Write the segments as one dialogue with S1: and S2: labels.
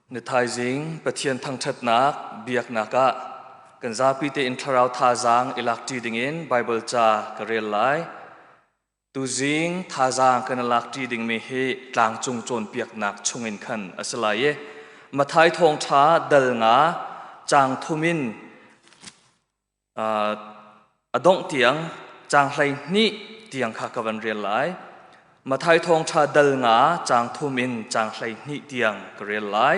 S1: Na thaizing Pathian thangṭhatnak biaknak ah kan zapi tein thlarau thazaang i lakṭi dingin Baibal ca ka rel lai. Tuzing thazaang kan i lak ṭi dingmi hi tlangcung cawnpiaknak chungin khan a si lai i Mathai thawngṭha dal nga caang thum in a dongh tiang caang hleihnih tiang kha ka van rel lai. Mathai thawngṭha dal nga caang thum in caang hleihnih tiang ka rel lai.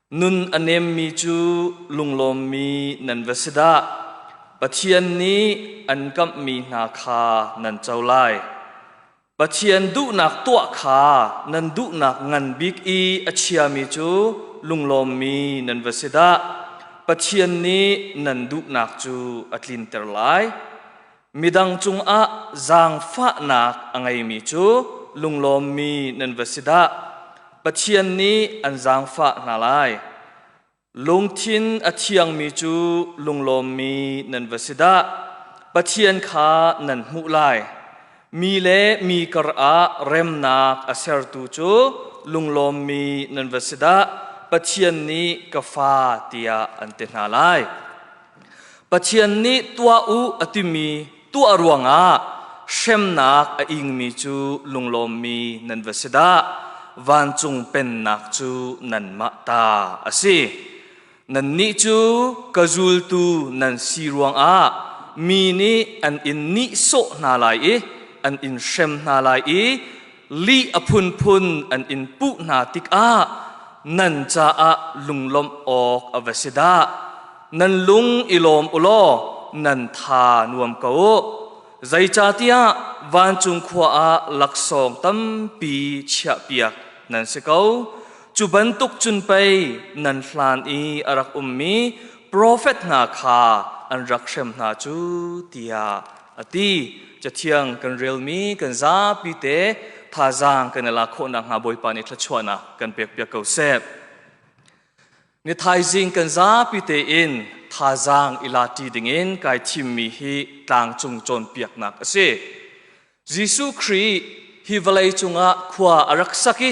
S1: Nun a nemmi cu lunglawmmi nan va si dah! Pathian nih an kamhmi hna kha nan co lai. Pathian duhnak tuah kha nan duhnak ngan bik i a chiami cu lunglawmmi nan va si dah! Pathian nih nan duhnak cu a tlinter lai. Midang cungah zaangfahnak a ngeimi cu lunglawmmi nan va si dah! Pathian nih an zaangfah hna lai. Lungthin a thiangmi cu lunglawmmi nan va si dah! Pathian kha nan hmuh lai. Mi le mi karah remnak a sertu cu lunglawmmi nan va si dah! Pathian nih ka Fa tiah an ti hna lai. Pathian nih tuah u a timi tuah ruangah hremnak a ingmi cu lunglawmmi nan va si dah. Vancung pennak cu nanmah ta a si. Nannih cu ka zultu nan si ruangah mi nih an in nihsawh hna lai i an in hrem hna lai i li a phunphun an in puh hna tikah nan caah lunglawmh awk a va si dah nan lung i lawm u law nan tha nuam ko u zeicahtiah vancung khua ah laksawng tampi chiahpiak nan si ko cu bantuk cun pei nan hlan i a rak ummi profet hna kha an rak hrem hna cu tiah ati cathiang kan relmi kan zapi te thazaang kan i lak khawhnak hnga bawipa nih thluachuahnak kan pek piak ko seh ni thaizing kan zapi tein thazaang i lati dingin kai thimmi hi tlangcung cawnpiaknak a si Jesuh Khrih hi vawlei cungah khua a rak sak i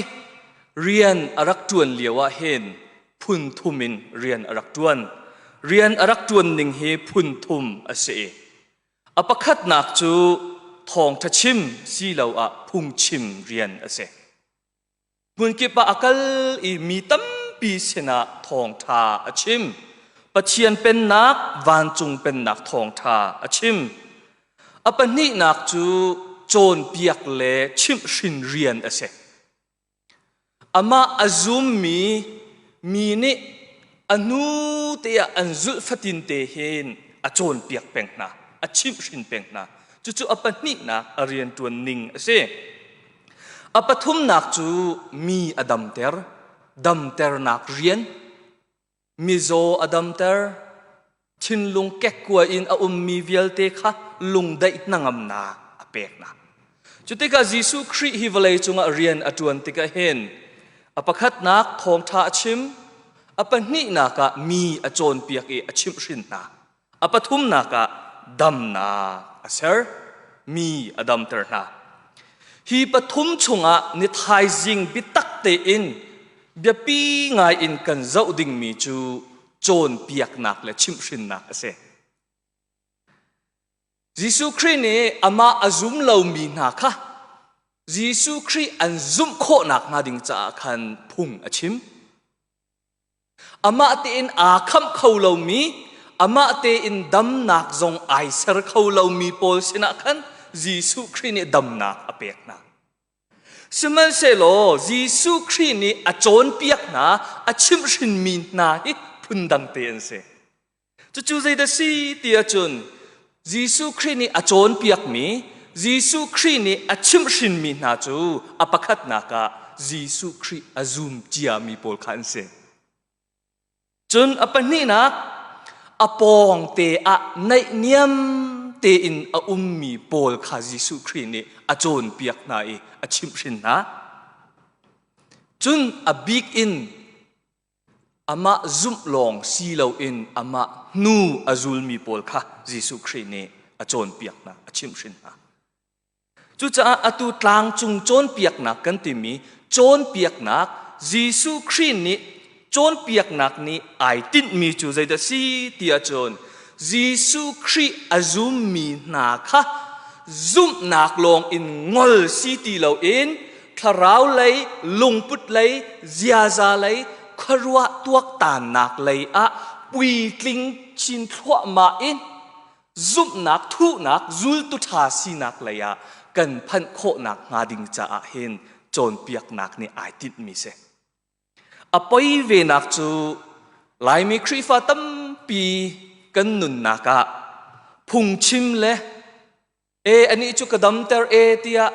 S1: rian a rak ṭuan lio ah hin phun thum in rian a rak ṭuan. Rian a rak ṭuan ning hi phun thum a si i a pakhatnak cu thawngṭha chim siloah phungchim rian a si. Hmunkip ah a kal i mi tampi sinah thawngṭha a chim. Pathian pennak, vancung pennak thawngṭha a chim. A pahnihnak cu cawnpiak le chimhhrin rian a si. Amah a zummi mi nih a hnu te ah an zulh fatinte hin a cawnpiak peng hna, a chimhhrin peng hna. Cucu a pahnihnak a rianṭuan ning a si. A pathumnak cu mi a damter, damternak rian. mizaw a damter thinlung kekkua in a ummi vialte kha lungdaih hnangamnak a peknak cu tikah Jesuh Khrih hi vawlei cungah rian a ṭuan tikah hin a pakhatnak thawngṭha a chim a pahnihnak ah mi a cawnpiak i a chimhhrin hna A pathumnak ah damnak a ser. Mi a damter hna. Hi pathum chungah ni thaizing biatak tein biapi ngai in kan zoh dingmi cu cawnpiaknak le chimhhrinnak a si. Jesuh Khrih nih amah a zum lomi hna kha Jesuh Khrih an zumh khawh nakhnga ding caah khan phung a chim. Amah tein aa khamh kho lomi, amah tein damnak zong ai ser kho lomi pawl sinah khan Jesuh Khrih nih damnak a pek hna. Sihmanhsehlaw Jesuh Khrih nih a cawnpiak hna, a chimhhrinmi hna hi phundang te an si. Cucu zeidah si ti ahcun Jesuh Khrih nih a cawnpiakmi Jesuh Khrih nih a chimhhrinmi hna cu a pakhatnak ah Jesuh Khrih a zum ciami pawl kha an si. Cun a pahnihnak a pawngte ah naihniam tein a ummi pawl kha Jesuh Khrih nih a cawnpiak hna i a chimhhrin hna. Cun a bik in Amah zumh lawng si loin amah hnu a zulmi pawl kha Jesuh Khrih nih a cawnpiak hna, a chimhhrin hna. Cucaah atu tlangcung cawnpiaknak kan timi cawnpiaknak Jesuh Khrih nih cawnpiaknak nih ai tinhmi cu zeidah si ti ahcun Jesuh Khrih a zummi hna kha zumhnak lawng in ngol si ti loin thlarau lei lungput lei ziaza lei khuaruah tuaktannak lei ah puitling chin thluahmah in zumhnak thuhnak zultu ṭha sinak lei ah kan phanh khawhnak hnga ding caah hin cawnpiaknak nih ai tinhmi si a poi venak cu laimi khrihfa tampi kan nunnak ah phungchim le e ani cu ka damter e tiah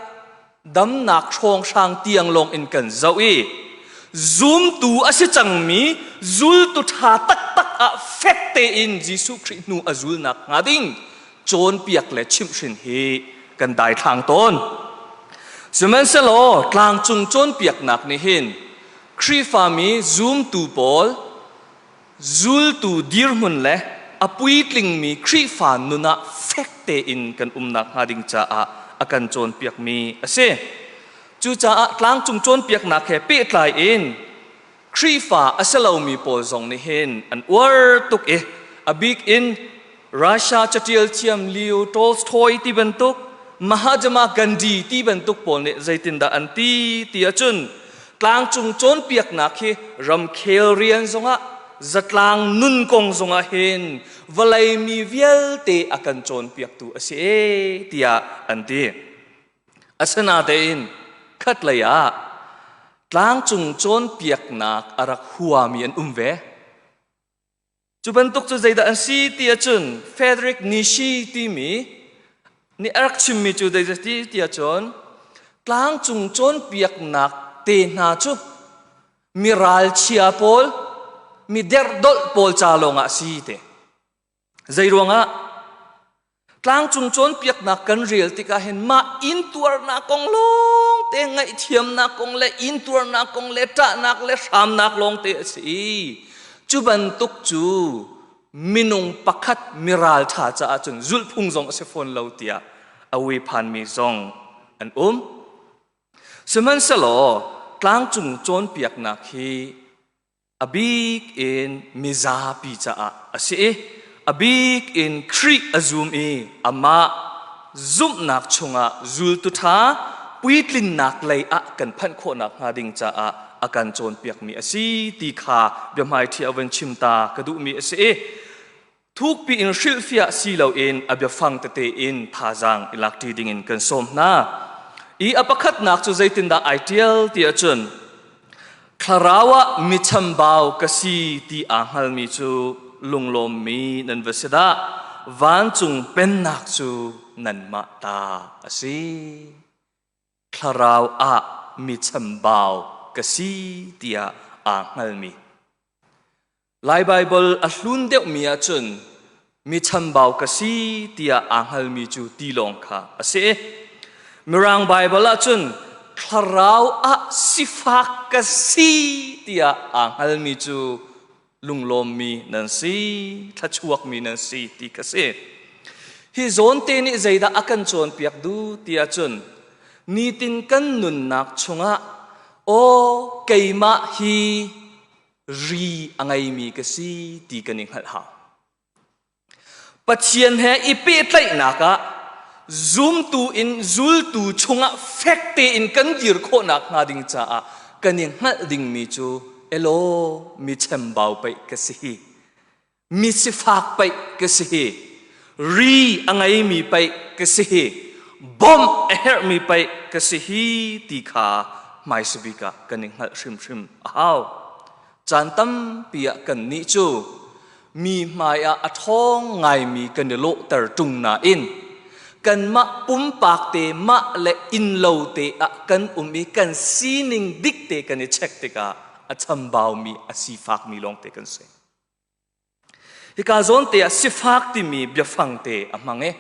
S1: damnak hrawnghrang tiang lawng in kan zoh i zumtu a si cangmi zultu ṭha taktak ah fek tein Jesuh Khrih hnu a zul nak hnga ding cawnpiak le chimhhrin hi kan daithlang tawn. Sihmanhsehlaw tlangcung cawnpiaknak nih hin Khrihfami zumtu pawl zultu dirhmun le a puitlingmi Khrihfa nun ah fek tein kan umnak hnga ding caah a kan cawnpiakmi a si. Cucaah tlangcung cawnpiaknak he pehtlai in Khrihfa a si lomi pawl zong nih hin an uar tuk i a bik in Russia catial thiam Leo Tolstoy ti bantuk Mahatma Gandhi ti bantuk pawl nih zeitindah an ti ti ahcun tlangcung cawnpiaknak hi ramkhel rian zongah zatlang nun kong zongah hin vawlei mi vialte a kan cawnpiaktu a si e tiah an ti. Asinatein khatlei ah tlangcung cawnpiaknak a rak huami an um ve. Cu bantuk cu zeidah an si ti ahcun Frederick Nishi timi nih a rak chimmi cu zeiti ti ahcun tlangcung cawnpiaknak te hna cu mi ralchia pawl, mi derhdolh pawl ca lawngah a si te. Zei ruangah? Tlangcung cawnpiaknak kan rel tikah hin mah intuarnak kong lawng te ngaihthiamnak kong le intuarnak kong le ṭahnak le hramnak lawng te a si. Cu bantuk cu minung pakhat miral ṭha caah cun zulhphung zong a si fawn lo tiah a ui phanmi zong an um. Sihmanhsehlaw tlangcung cawnpiaknak hi a bik in mizapi caah a si i a bik in Khrih a zum i amah zumhnak chungah zultu ṭha puitlinnak lei ah kan phanh khawh nakhnga ding caah a kan cawnpiakmi a si ti kha biahmaiṭhi awen chim ta ka duhmi a si i thukpi in hrilhfiah si loin a biafang tete in thazaang i lakṭi dingin kan sawm hna. I a pakhatnak cu zeitindah ai ṭial ti ahcun thlarau ah mi chambau ka si ti aa hngalmi cu lunglawmmi nan va si dah vancung pennak cu nanmah ta a si thlarau ah mi chambau ka si tiah aa hngalmi Lai Baibal a hlun deuhmi ahcun mi chambau ka si tiah aa hngalmi cu tilawng kha a si. Mirang Baibal ahcun thlarau ah sifak ka si tiah aa hngalmi cu lunglawmmi nan si, thluachuakmi nan si ti ka si. Hi zawnte nih zeidah a kan cawnpiak duh tiah cun nitin kan nunnak chungah aw keimah hi ri a ngeimi ka si ti kan i hngalh hau. Pathian he i pehtlaihnak ah zumtu in zultu chungah fek tein kan dir khawhnak hnga ding caah kan i hngalh dingmi cu elo mi chembau pei ka si. mi sifak paih ka si hi ri a ngeimi paih ka si hi bawmh a herhmi paih ka si hi ti kha hmaisabik ah kan i hngalh hrimhrim a hau caan tampi ah kannih cu mi hmai ah a ṭhawng ngaimi kan i lawhter ṭung nain kanmah pumpak te mah le innlo te ah kan um i kan sining dik te kan i check tikah a chambaumi a sifakmi lawngte kan si. Hika zawnte ah sifak timi biafang te a hmang i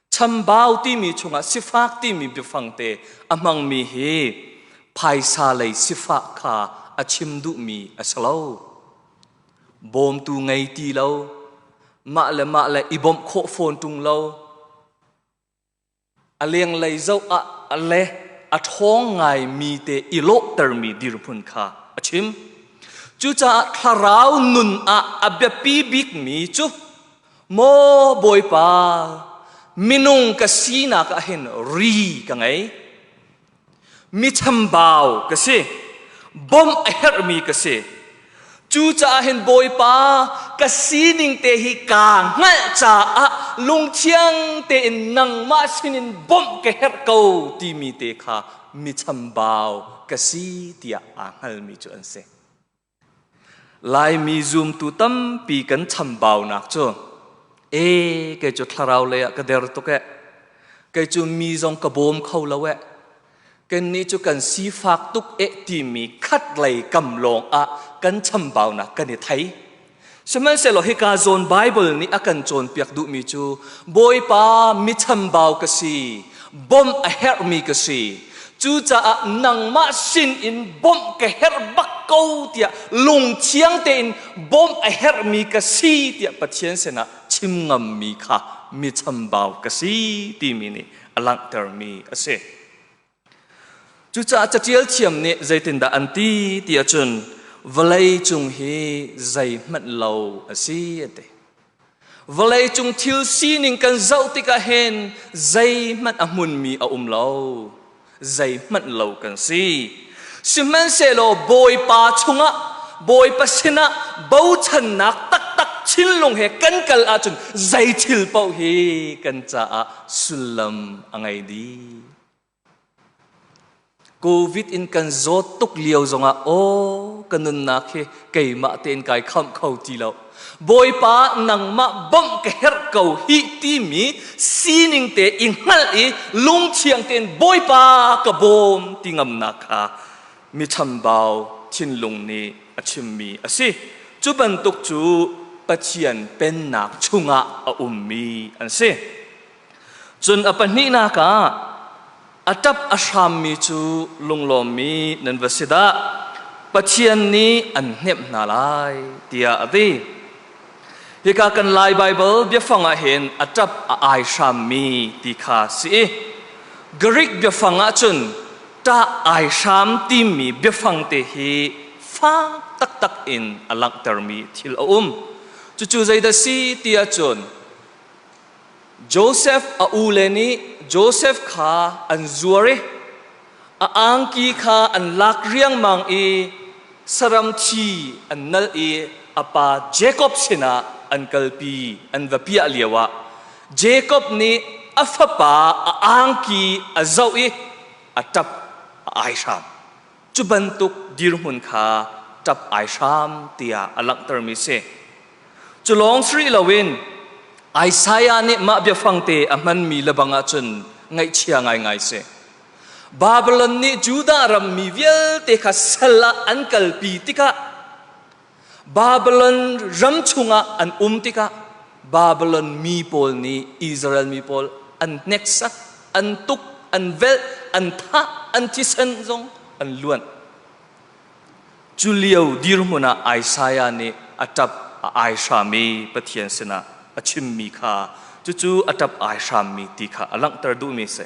S1: chambau timi chungah sifak timi biafang te a hmangmi hi phaisa lei sifah kha a chim duhmi a si lo. Bawmtu ngei ti lo, mah le mah le i bawmh khawh fawn ṭung lo, a lenglei zoh ah a le a ṭhawng ngaimi te i lawhtermi dirhmun kha a chim. Cucaah thlarau nun ah a biapi bikmi cu maw Bawipa, minung ka sinak ah hin ri ka ngei. mi chambau ka si bawmh a herhmi ka si cucaah hin bawipa ka sining te hi kaa hngalh caah lungthiang tein nangmah sinin bawmh ka herh ko timi te kha mi chambau ka si tiah aa hngalmi cu an si Laimi zumtu tampi kan chambaunak cu e kei cu thlarau lei ah ka der tuk ee. Kei cu mi zong ka bawm kho lo ee. Kannih cu kan sifak tuk ee timi khat lei kam lawng ah kan chambaunak kan i thei. Sihmanhsehlaw hika zawn Baibal nih a kan cawnpiak duhmi cu Bawipa michambau ka si, bawmh a herhmi ka si. Cucaah nangmah sin in bawmh ka herh bak ko tiah lungthiang tein bawmh a herhmi ka si tiah Pathian sinah chim ngammi kha michambau ka si timi nih a langhtermi a si. Cucaah catial thiam nih zeitindah an ti ti ahcun vawlei cung hi zeihmanh lo a si a ti. Vawlei cung thil sining kan zoh tikah hen zeihmanh a hmunmi a um lo. Zeihmanh lo kan si. Sihmanhsehlaw Bawipa chungah Bawipa sinah bochannak taktak thinlung he kan kal ahcun zei thil paoh hi kan caah sullam a ngei dih. Covid in kan zawt tuk lio zongah aw ka nunnak hi keimah tein kai khamh kho ti lo. Bawipa nangmah bawmh ka herh ko hi timi sining te i hngalh i lungchiang tein Bawipa ka bawm ti ngamnak kha mi chambau thinlung nih a chimmi a si. Cu bantuk cu Pathian pennak chungah a ummi an si. Cun a pahnihnak ah a ṭap a hrammi cu lunglawmmi nan va si dah! Pathian nih an hnemh hna lai tiah a ti. Hika kan Lai Baibal biafang ah hin a ṭap a ai hrammi ti kha si i Greek biafang ah cun ṭah ai hram timi biafang te hi fak taktak in a langhtermi thil a um. Cucu zeidah si ti ahcun Josef a ule nih Josef kha an zuar i a angki kha an lak riangmang i saram thi an nal i a pa Jakob sinah an kalpi an va piah lioah Jakob nih a fapa a angki a zoh i a ṭap a ai hram. cu bantuk dirhmun kha ṭap ai hram tiah a langhtermi si. Cu lawng si rih loin Isaiah nih mah biafangte a hmanmi lebang ahcun ngaihchia ngaingai si. Babylon nih Judah ram mi vialte kha sal ah an kalpi tikah Babylon ram chungah an um tikah Babylon mi pawl nih Israel mi pawl an hneksak, an tuk, an velh, an thah, an thisen zong an luan. Cu lio dirhmun ah Isaiah nih a ṭap a ai hrammi Pathian sinah a chimmi kha cucu a ṭap ai hrammi ti kha a langhter duhmi a si.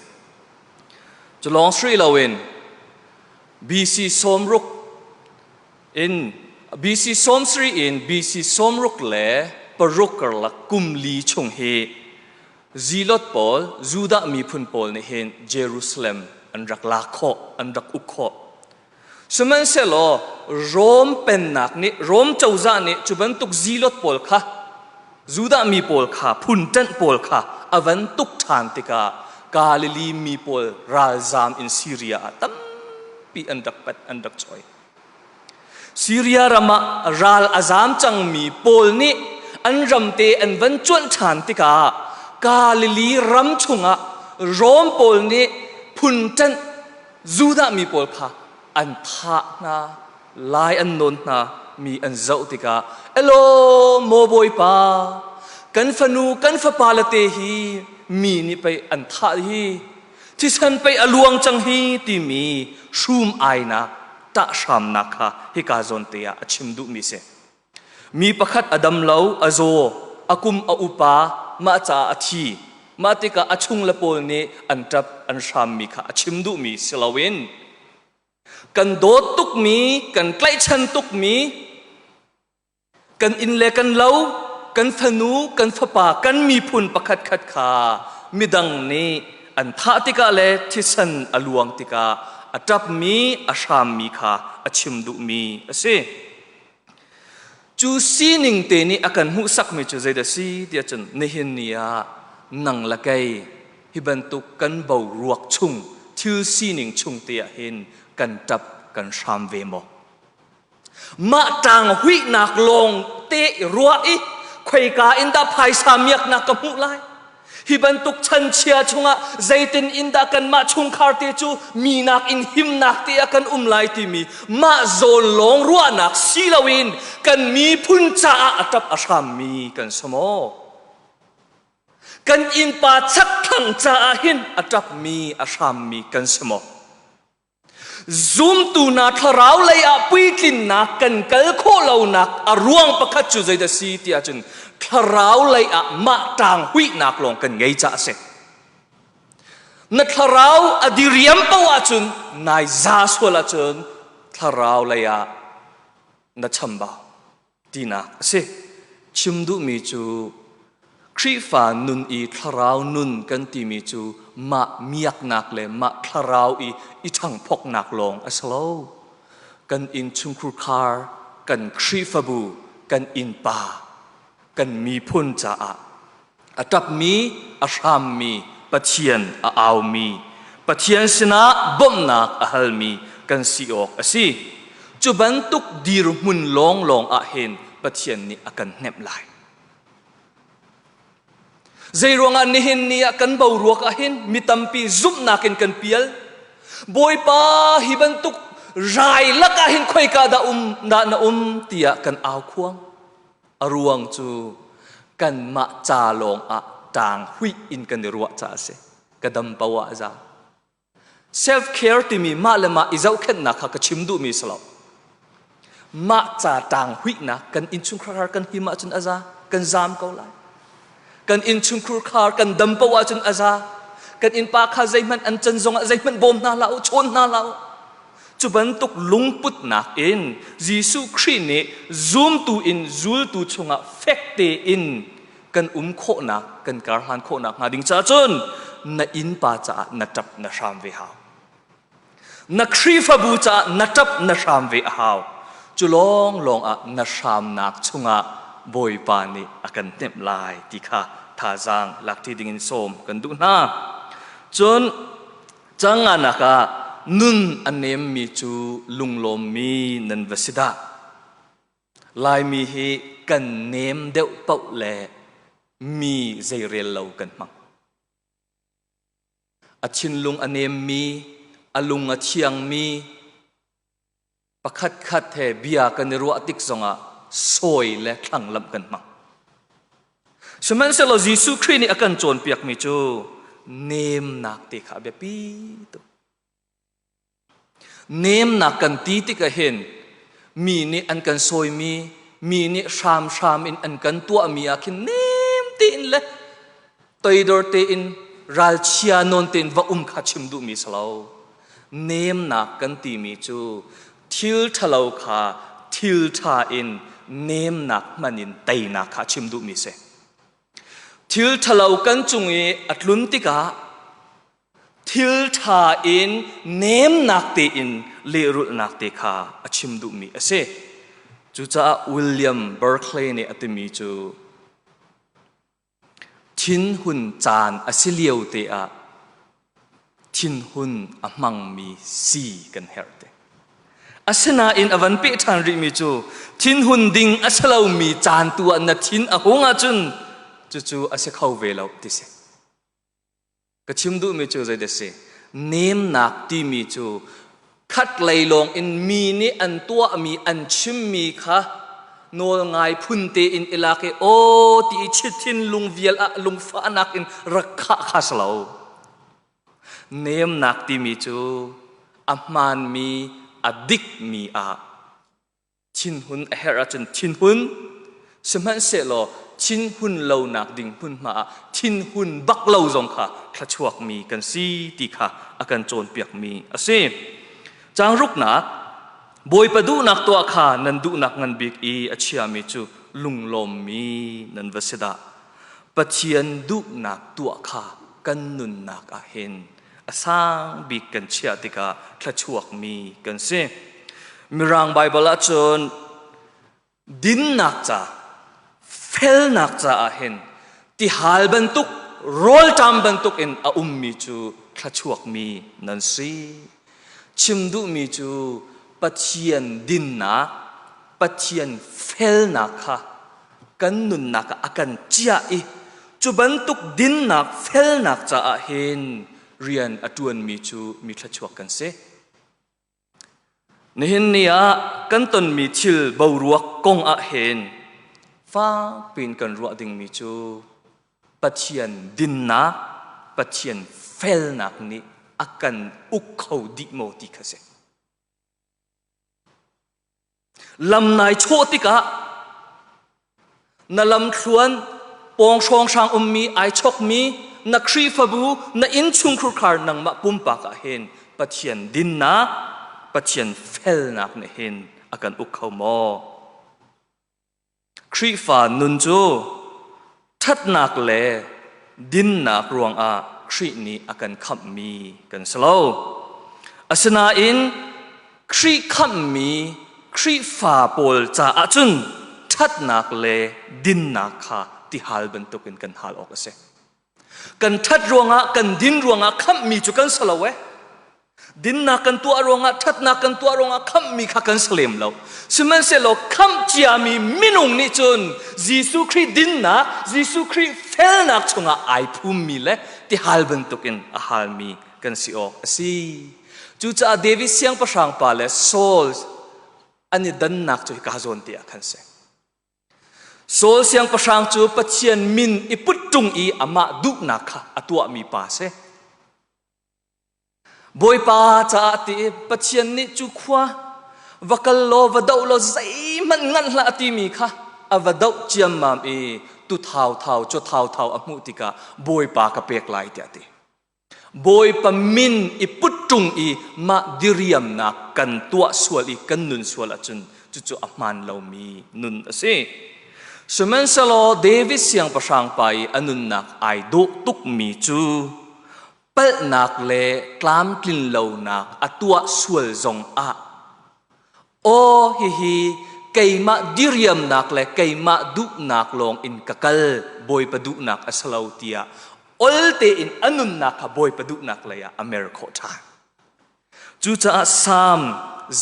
S1: Cu lawng sri loin BC sawmruk In BC sawmsarih in BC sawmruk le paruk karlak kum li chung hi zilot pawl, Judah miphun pawl nih hin Jerusalem an rak lak khawh, an rak uk khawh. Sihmanhsehlaw Rom pennak nih, Rom cozah nih cu bantuk zilot pawl kha, Judah mi pawl kha, phunṭanh pawl kha a van tuk ṭhan tikah Galilee mi pawl ralzam in Syria ah tampi an rak pat, an rak choi. Syria ram ah ral a zam cangmi pawl nih an ramte an van cuanh ṭhan tikah Galilee ram chungah Rom pawl nih phunṭanh Judah mi pawl kha an thah hna, lai an nawn hna, mi an zoh tikah, Elo, maw Bawipa, kan fanu, kan fapale te hi mi nih pei an thah hi Thisen pei a luang cang hi timi hrum ainak ṭahhramnak kha hika zawnte ah a chim duhmi si. Mi pakhat a dam lo, a zaw, a kum a upa, mah caah a thi. Mah tikah a chung le pawl nih an ṭap, an hrammi kha a chim duhmi si loin kan dawt tukmi, kan tlaihchan tukmi kan inn le kan lo, kan fanu, kan fapa, kan miphun pakhatkhat kha midang nih an thah tikah le thisen a luang tikah a ṭapmi a hrammi kha a chim duhmi a si. Cu sining te nih a kan hmuhsakmi cu zeidah si tiah cun nihin ni ah nang le kei hi bantuk kan boruak chung thil sining chung te ah hin kan ṭap kan hram ve maw? mah ṭang huihnak lawng te i ruah i khoika in dah phaisa miaknak ka hmuh lai hi bantuk chanchia chungah zeitin in dah kanmah chungkhar te cu mi nak in himnak te ah kan um lai timi mah zawn lawng ruahnak si loin kan miphun caah a ṭap a hrammi kan som aw kan innpa chakthlang caah hin a ṭapmi a hrammi kan si maw Zumtu hna thlarau lei ah puitlinnak kan kal khawh lonak a ruang pakhat cu zeidah si tiah cun thlarau lei ah mah ṭang huihnak lawng kan ngei caah a si. Na thlarau a diriam poh ahcun nai za sual ahcun thlarau lei ah na chambau. tinak a si. Chim duhmi cu Khrihfa nun i thlarau nun kan timi cu mah miaknak le mah thlarau i i ṭhangphoknak lawng a si lo. Kan innchungkhur khar, kan Khrihfabu, kan innpa, kan miphun caah a ṭapmi a hrammi Pathian a aumi Pathian sinah bawmhnak a halmi kan si awk a si. Cu bantuk dirhmun lawnglawng ah hin Pathian nih a kan hnemh lai. Zeiruangah nihin ni ah kan boruak ah hin mi tampi zumhnak in kan pial. Bawipa hi bantuk rai lakah hin khoika dah um dah na um tiah kan au khuang. a ruang cu kanmah ca lawng ah ṭaang huih in kan i ruah caah a si ka dam poah a zaang self care timi mah le mah i zohkhenhnak kha ka chim duhmi si lo mah ca ṭaang huihnak kan innchungkhar kan him ahcun a za kan zaam ko lai kan innchungkhur khar kan dam poh ahcun a za kan innpa kha zeihmanh an can zongah zeihmanh bawm hna hlah u chawn hna hlah u cu bantuk lungputnak in Jesuh Khrih nih zumtu in zultu chungah fek tein kan um khawhnak kan karhlan khawhnak hnga ding caah cun na innpa caah na ṭap na hram ve hau na Khrihfabu caah na ṭap na hram ve a hau cu lawng lawng ah na hramnak chungah Bawipa nih a kan temh lai ti kha thazaang lakṭi dingin sawm kan duh hna. Cun canganak ah nun a nemmi cu lunglawmmi nan va si dah. Laimi hi kan nem deuh paoh le mi zeirel lo kan hmang. A thinlung a nemmi, a lung a thiangmi, pakhatkhat he bia kan i ruah tik zongah sawi le thlanglamh kan hmang. Sihmanhsehlaw Jesuh Khrih nih a kan cawnpiakmi cu nemnak te kha a biapi tuk. Nemnak kan ti tikah hin mi nih an kan sawimi, mi nih hramhram in an kan tuahmi ah khin nem tein le toidor tein ralchia nawn tein va um kha chim duhmi si lo. Nemnak kan timi cu thil ṭhalo kha thil ṭha in nemnak hman in teinak kha chim duhmi si. Thil ṭhalo kan cung i a tlun tikah thilṭha in nemnak tein lehrulhnak te kha a chim duhmi a si. Cucaah William Berkeley nih a timi cu thinhun caan a si lio te ah thinhun a hmangmi si kan herh te. Asinain a van peh ṭhan rihmi cu thinhun ding a si lomi caan tu ah na thin a hung ahcun cucu a si kho ve lo ti si. Ka chim duhmi cu zei dah si? Nemnak timi cu khatlei lawng in mi nih an tuahmi, an chimmi kha nawlngai phun tein i lak i aw ti i chithinlung vial ah lungfahnak in rak khah kha si lo. Nemnak timi cu a hmaanmi, a dikmi ah Thinhun a herh ahcun thinhun, sihmanhsehlaw thinhun lonak ding hmunhma ah thinhun bak lo zong kha thluachuakmi kan si ti kha a kan cawnpiakmi a si. Cangruknak, Bawipa duhnak tuah kha nan duhnak ngan bik i a chiami cu lunglawmmi nan va si dah. Pathian duhnak tuah kha kan nunnak ah hin a sang bik kan chiah tikah thluachuakmi kan si. Mirang Baibal ahcun dinnak ca, felnak caah hin tihal bantuk, rawlṭam bantuk in a ummi cu thluachuakmi nan si. Chim duhmi cu Pathian dinnak, Pathian felnak kha kan nunnak ah a kan ciah i cu bantuk dinnak felnak caah hin rian a ṭuanmi cu mi thluachuak kan si. Nihin ni ah kan tonmi thil boruak kong ah hin fakpiin kan ruah dingmi cu Pathian dinnak, Pathian felnak nih a kan uk kho dih maw ti kha si. lam nai chawh tikah na lamthluan pawnghrong hrang ummi ai chokmi na khrifabu na innchung khurkhar nangmah pumpak ah hin pathian dinnak pathian felnak nih hin a kan uk kho maw Khrihfa nun cu ṭhatnak le dinnak ruangah Khrih nih a kan khamhmi kan si lo. Asinain Khrih khamhmi Khrihfa pawl caah cun ṭhatnak le dinnak kha ti hal bantukin kan hal awk a si. kan ṭhat ruangah kan din ruangah khamhmi cu kan si lo eh dinnak kan tuah ruangah ṭhatnak kan tuah ruangah khamhmi kha kan si lem lo sihmanhsehlaw khamh ciami minung nih cun Jesuh Khrih dinnak Jesuh Khrih felnak chungah ai phummi le tihal bantukin a halmi kan si awk a si cucaah David siangpahrang pa le Saul an i dannak cu hika zawn te ah khan si Saul siangpahrang cu Pathian min i put ṭung i amah duhnak kha a tuahmi pa a si. Bawipa caah ti Pathian nih cu khua va kal law va doh law zeihmanh nganh hlah a timi kha a va doh ciammam i tu thauthau cu thauthau a hmuh tikah Bawipa ka pek lai tiah a ti. Bawipa min i put ṭung i mah diriamnak kan tuah sual i kan nun sual ahcun cucu a hmaan lomi nun a si. Sihmanhsehlaw David siangpahrang pa i a nunnak ai dawh tukmi cu palhnak le tlamtlin lonak a tuah sual zong ah Aw hihi keimah diriamnak le keimah duhnak lawng in ka kal bawipa duhnak a si lo tiah ol tein a nunnak kha bawipa duhnak lei ah a mer khawh ṭhan. Cucaah Salm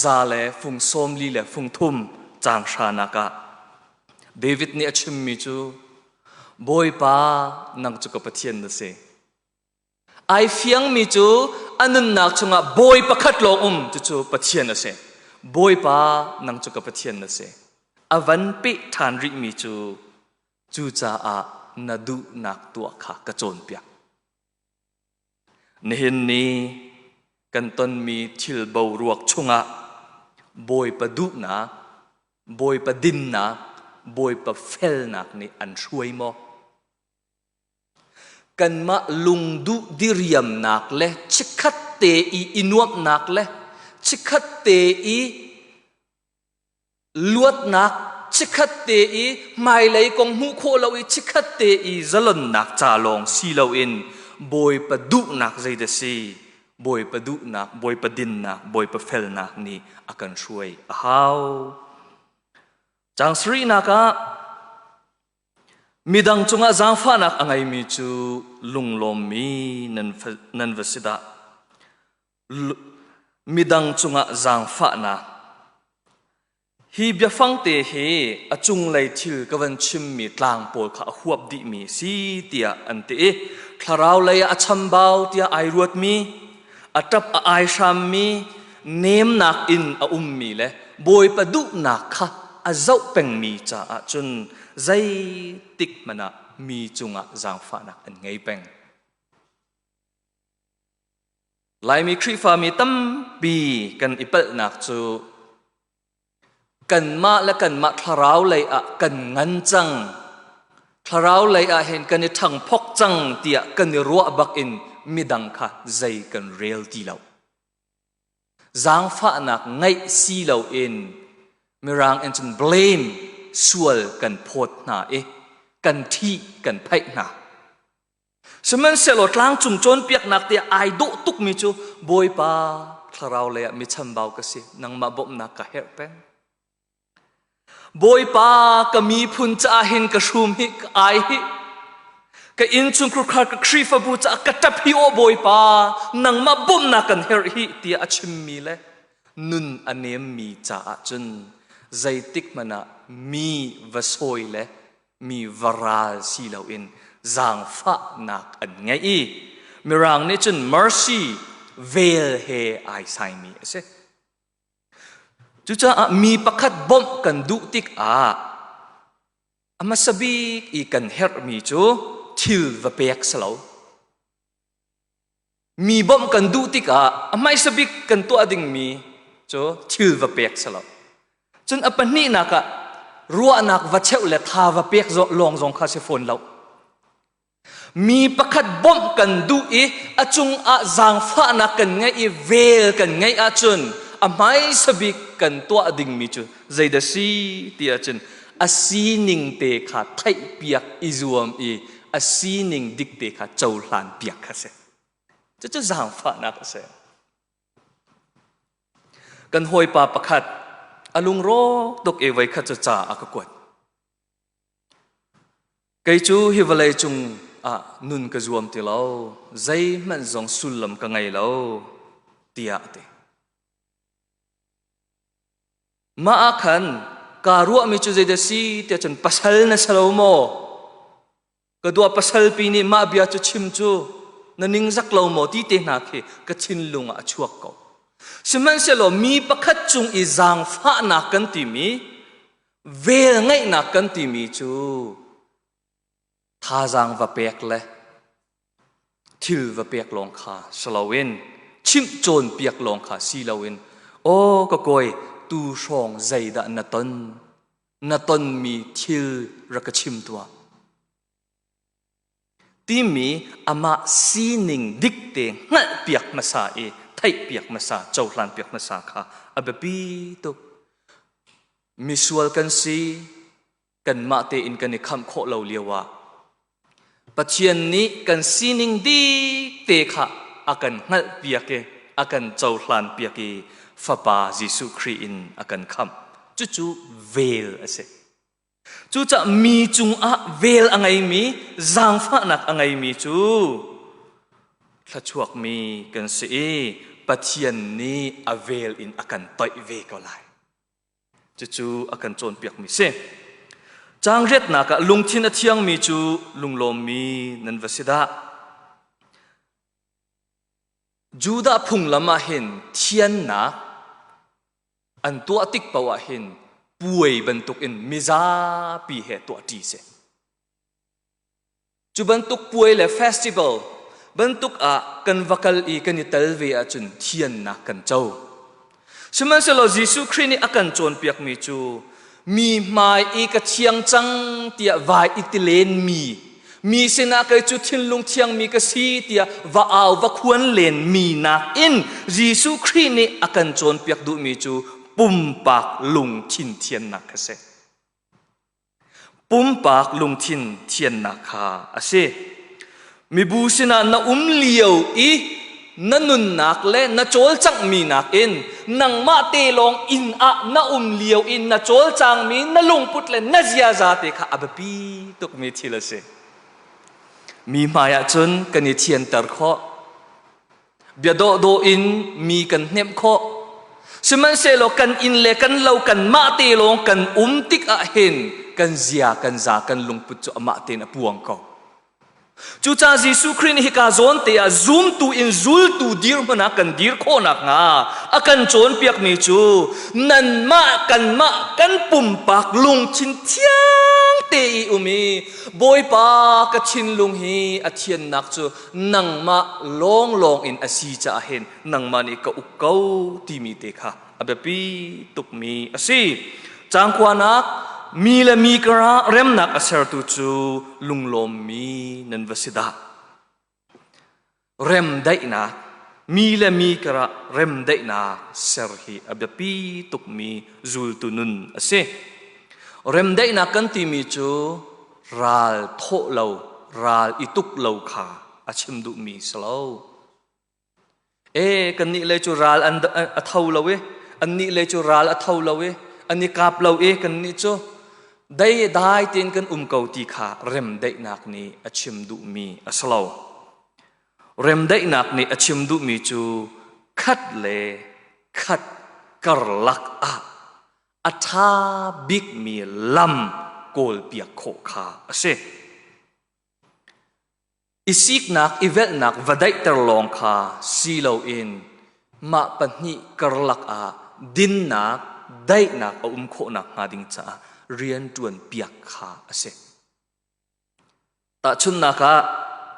S1: za le fung sawm li le fung thum caang hranak ah David nih a chimmi cu Bawipa nang cu ka Pathian na si. Ai fiangmi cu a nunnak chungah bawi pakhat lawng um cucu Pathian a si. Bawipa nang cu ka Pathian na si. A van peh ṭhan rihmi cu cucaah na duhnak tuah kha ka cawnpiak. Nihin ni kan tonmi thil boruak chungah Bawipa duhnak, Bawipa dinnak, Bawipa felnak nih an hruai maw? Kanmah lungduh diriamnak le chikkhat te i i nuamhnak le chikkhat te i luatnak, chikkhat te i hmailei kong hmuh khawh lo i chikkhat te i zalonnak ca lawng si loin Bawipa duhnak zeidah si? Bawipa duhnak, Bawipa dinnak, Bawipa felnak nih a kan hruai a hau. Cang sarihnak ah Midang cungah zaangfahnak a ngeimi cu lunglawmmi nan va si dah. Midang cungah zaangfahnak. Hi biafangte hi a cunglei thil ka van chimmi tlang pawl kha a huap dihmi a si tiah an ti i thlarau lei ah a chambau tiah ai ruatmi a ṭap a ai hrammi nemnak in a ummi le Bawipa duhnak kha a zoh pengmi caah cun zeitik hmanh ah mi cungah zaangfahnak an ngei peng. Laimi Khrihfami tampi kan i palhnak cu kanmah le kanmah thlarau lei ah kan ngan cang thlarau lei ah hin kan i ṭhangphok cang tiah kan i ruah bak in midang kha zei kan rel ti lo zaangfahnak ngeih si lo in mirang in cun blame sual kan phawt hna i kan ṭhih kan phaih hna Sihmanhsehlaw tlangcung cawnpiaknak tiah ai dawh tukmi cu Bawipa thlarau leiah mi chambau ka si nangmah bawmhnak ka herh peng Bawipa ka miphun caah hin ka hrum hi ka ai hi ka innchung khukhar ka khrifabu caah ka ṭap hi o Bawipa nangmah bawmhnak kan herh hi tiah a chimmi le nun a nemmi caah cun zeitik hmanh ah mi va sawi le mi varal si loin zaangfahnak an ngei i mirang nih cun mercy vel he ai saimi a si cucaah mi pakhat bawmh kan duh tikah a hmasa bik i kan herhmi cu thil va pek si lo Mi bawmh kan duh tikah a hmaisa bik kan tuah dingmi cu thil va pek si lo. Cun a pahnihnak ah ruahnak va cheuh le tha va pek lawng zong kha si fawn lo. Mi pakhat bawmh kan duh i a cung ah zaangfahnak kan ngeih i vel kan ngeih ahcun a hmaisa bik kan tuah dingmi cu zeidah si ti ahcun a sining te kha theihpiak i zuam i a sining dikte kha cohlanpiak kha si. Cucu zaangfahnak a si. Kan hawipa pakhat a lungrawk tuk i voi khat cu ca a ka kuat. Kei cu hi vawlei cung ah nun ka zuam ti lo. Zeihmanh zong sullam ka ngei lo tiah ti. Mah ah khan kaa ruahmi cu zeidah si tiah cun pasal na si lo maw? Ka dua pasalpi nih mah bia cu chim cu na ningzak lo maw ti te hna khi ka thinlung ah a chuak ko. Sihmanhsehlaw mi pakhat cung i zaangfahnak kan timi, vel ngeihnak kan timi cu thazaang va pek le thil va pek lawng kha si loin chimh cawn piak lawng kha si loin aw ka koi tu hrawng zeidah na ton na tonmi thil ra ka chim tuah timi amah sining dikte hngalh piak hmasa i theih piak hmasa cohlan piak hmasa kha a biapi tuk misual kan si kanmah tein kan i khamh khawh lo lio ah Pathian nih kan sining dik te kha a kan hngalh piak i a kan cohlan piak i fapa Jesuh Khrih in a kan khamh cucu vel a si cucah mi cungah vel a ngeimi zaangfahnak a ngeimi cu thluachuakmi kan si i Pathian nih a vel in a kan toih ve ko lai Cucu a kan cawnpiakmi si. Changriatnak ah lungthin a thiangmi cu lunglawmmi nan va si dah. Judah phunglam ah hin thiannak an tuah tik paoh ah hin puai bantukin mizapi he tuahṭi si. Cu bantuk puai le festival bantuk ah kan va kal i kan i tel ve ahcun thiannak kan co. Sihmanhsehlaw Jesuh Khrih nih a kan cawnpiakmi cu mi hmai i ka thiang cang tiah vai i tilenmi, mi sinah kei cu thinlung thiangmi ka si tiah va au va khuan lenmi nakin Jesuh Khrih nih a kan cawnpiak duhmi cu pumpak lungthin thiannak kha si. Pumpak lungthin thiannak kha a si. Mibu sinah na um lio i na nunnak le na cawlcanghmi nakin nangmah te lawng inn ah na um lio i na cawlcangmi na lungput le na ziaza te kha a biapi tukmi thil a si. Mi hmaiah cun kan i thianter khawh. bia dawhdawh in mi kan hnemh khawh sihmanhsehlaw kan inn le kan lo kan mah te lawng kan um tik ah hin kan zia kan za kan lungput cu amah tein a puang ko cucaah Jesuh Khrih nih hika zawn te ah zumtu in zultu dirhmun ah kan dir khawhnak hnga a kan cawnpiakmi cu nanmah kanmah kan pumpak lungthin thiang te i um i Bawipa ka thinlung hi a thiannak cu nangmah lawnglawng in a si caah hin nangmah nih ka uk ko timi te kha a biapi tukmi a si cangkuanak mi le mi karah remnak a sertu cu lunglawmmi nan va si dah remdaihnak mi le mi karah remdaihnak ser hi a biapi tukmi zultu nun a si remdaihnak kan timi cu ral thawh lo ral i tuk lo kha a chim duhmi si lo e kan nih le cu ral an a tho lo e an nih le cu ral a tho lo e an i kap lo e kan nih cu dai dai tein kan um ko ti kha remdaihnak nih a chim duhmi a si lo remdaihnak nih a chim duhmi cu khat le khat karlak ah a ṭha bikmi lam kawlpiak khawh kha a si. I siknak i velhnak va daihter lawng kha si loin mah pahnih karlak ah dinnak daihnak a um khawh nakhnga ding caah rian ṭuan piak kha a si. Tahchunhnak ah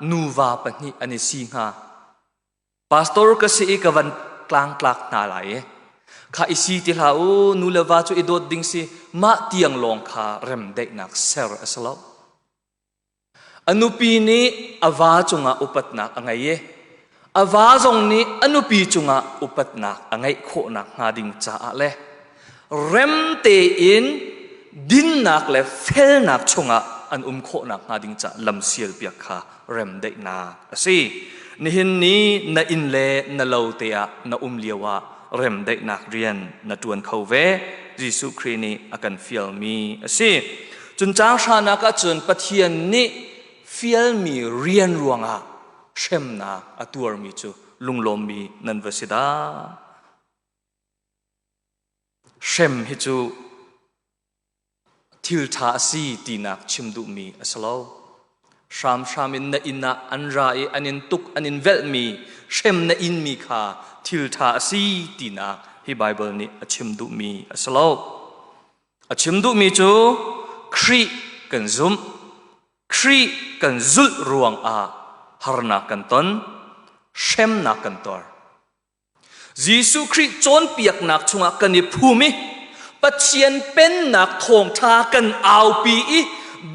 S1: nuva pahnih an i si hnga. pastor ka si i ka van tlang tlak hna lai i kha i si ti hlah u nu le va cu i dawt ding si mah tiang lawng kha remdaihnak ser a si lo a nupi nih a va cungah upatnak a ngei i a va zong nih a nupi cungah upatnak a ngeih khawh nakhnga ding caah le remte in dinnak le felnak chungah an um khawhnak hnga ding ca lamsial piak kha remdaihnak a si nihin ni na inn le na lo te ah na um lio ah remdaihnak rian na tuan kho ve Jesuh Khrih nih a kan fialmi a si cun caang hranak ah cun Pathian nih fialmi rian ruangah hremnak a tuarmi cu lunglawmmi nan va si dah Hrem hi cu thilṭha a si tinak chim duhmi a si lo. Hramhram in na inn ah an ra i an in tuk, an in velhmi hrem na inmi kha thilṭha a si tinak hi Baibal nih a chim duhmi a si lo. A chim duhmi cu Khrih kan zumh. Khrih kan zulh ruangah harnak kan ton, hremnak kan tor. Jesuh Khrih cawnpiaknak chungah kan i phum i Pathian pennak thawngṭha kan aupi i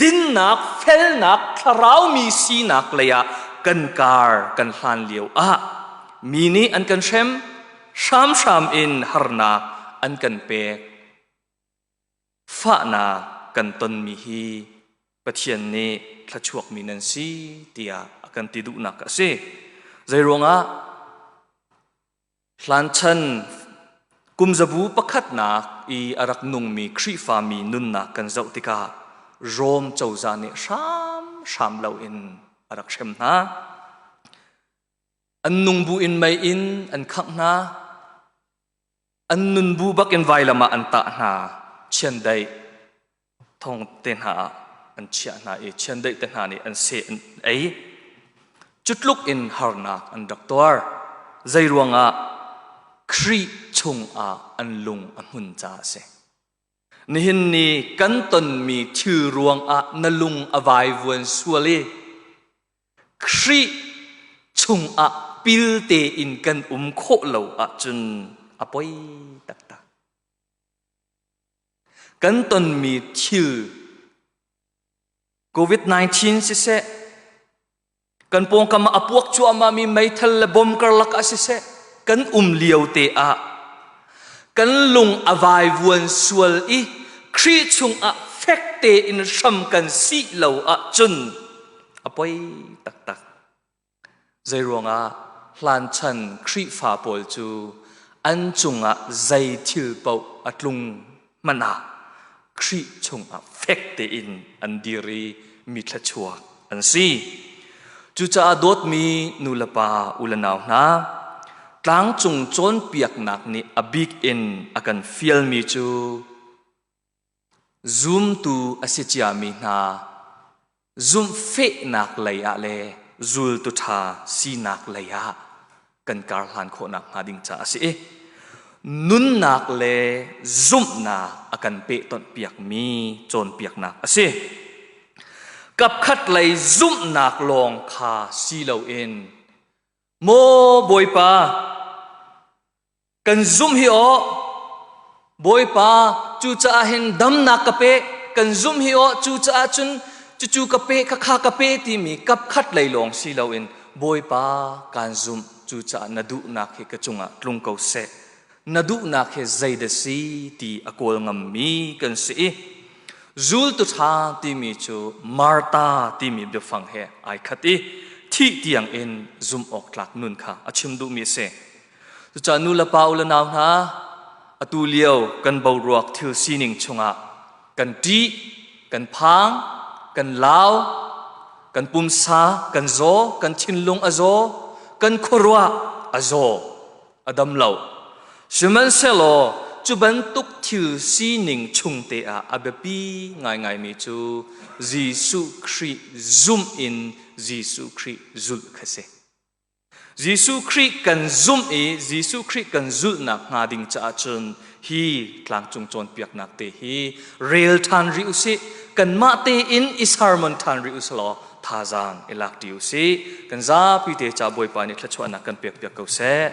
S1: dinnak felnak thlaraumi sinak leiah kan kar kan hlan lio ah mi nih an kan hrem hramhram in harnak an kan pek. Fahnak kan tonmi hi Pathian nih thluachuakmi nan si tiah a kan ti duhnak a si. Zeiruangah? Hlanchan kumzabu pakhatnak i a rak nungmi Khrihfami nunnak kan zoh tikah Rom cozah nih hramhram loin a rak hrem hna. An nung bu in mei in an khangh hna. an nun bu bakin vailam ah an tah hna chiandeih thong te hna ah an chiah hna i chiandeih te hna nih an se an ei cutluk in harnak an rak tuar zei ruangah Khrih chungah an lung a hmun ca a si nihin ni kan tonmi thil ruangah na lung a vaivuan sual i Khrih chungah pilte in kan um khawh lo ahcun a poi taktak. Kan tonmi thil COVID-19 siseh, kan pawngkam a puak cuahmahmi meithal le bom karlak ah siseh, kan um lio te ah kan lung a vaivuan sual i Khrih chungah fek tein hram kan si lo ahcun a poi taktak. Zeiruangah hlanchan Khrihfa pawl cu an cungah zei thil paoh a tlung hmanh ah Khrih chungah fek tein an dir i mi thluachuak an si. Cucaah dawtmi nulepa ulenau hna, tlangcung cawnpiaknak nih a bik in a kan fialmi cu Zumtu a si ciami hna zumhfehnak leiah le zultu ṭha sinak leiah kan kar hlan khawhnak hnga ding caah a si i nunnak le zumhnak a kan pehtonhpiakmi cawnpiaknak a si. Kapkhat lei zumhnak lawng kha si loin, Maw Bawipa, kan zumh hi aw bawipa cucaah hin damnak ka pe kan zumh hi aw cucaah cun cucu ka pe kha kha ka pe timi kap khat lei lawng si loin bawipa kaan zumh cucaah na duhnak hi ka cungah tlung ko seh na duhnak hi zeidah si ti a kawl ngammi kan si i zultu ṭha timi cu Marta timi biafang he ai khat i thih tiang in zumh awk tlak nun kha a chim duhmi a si Cucah nulepa u le nau hna, atu lio kan boruak thil sining chungah kan ṭih, kan phang, kan lau, kan pumsa kan zaw, kan thinlung a zaw, kan khuaruah a zaw, a dam lo. Sihmanhsehlaw cu bantuk thil sining chungte ah a biapi ngaingaimi cu Jesuh Khrih zumh in Jesuh Khrih zulh kha si. Jesuh Khrih kan zumh i Jesuh Khrih kan zulhnak hnga ding caah cun hi tlangcung cawnpiaknak te hi rel ṭhan rih u sih. Kanmah tein i sermon ṭhan rih u sih law thazaang i lak ṭi u sih. Kan zapi te caah Bawipa nih thluachuahnak kan pekpiak ko seh.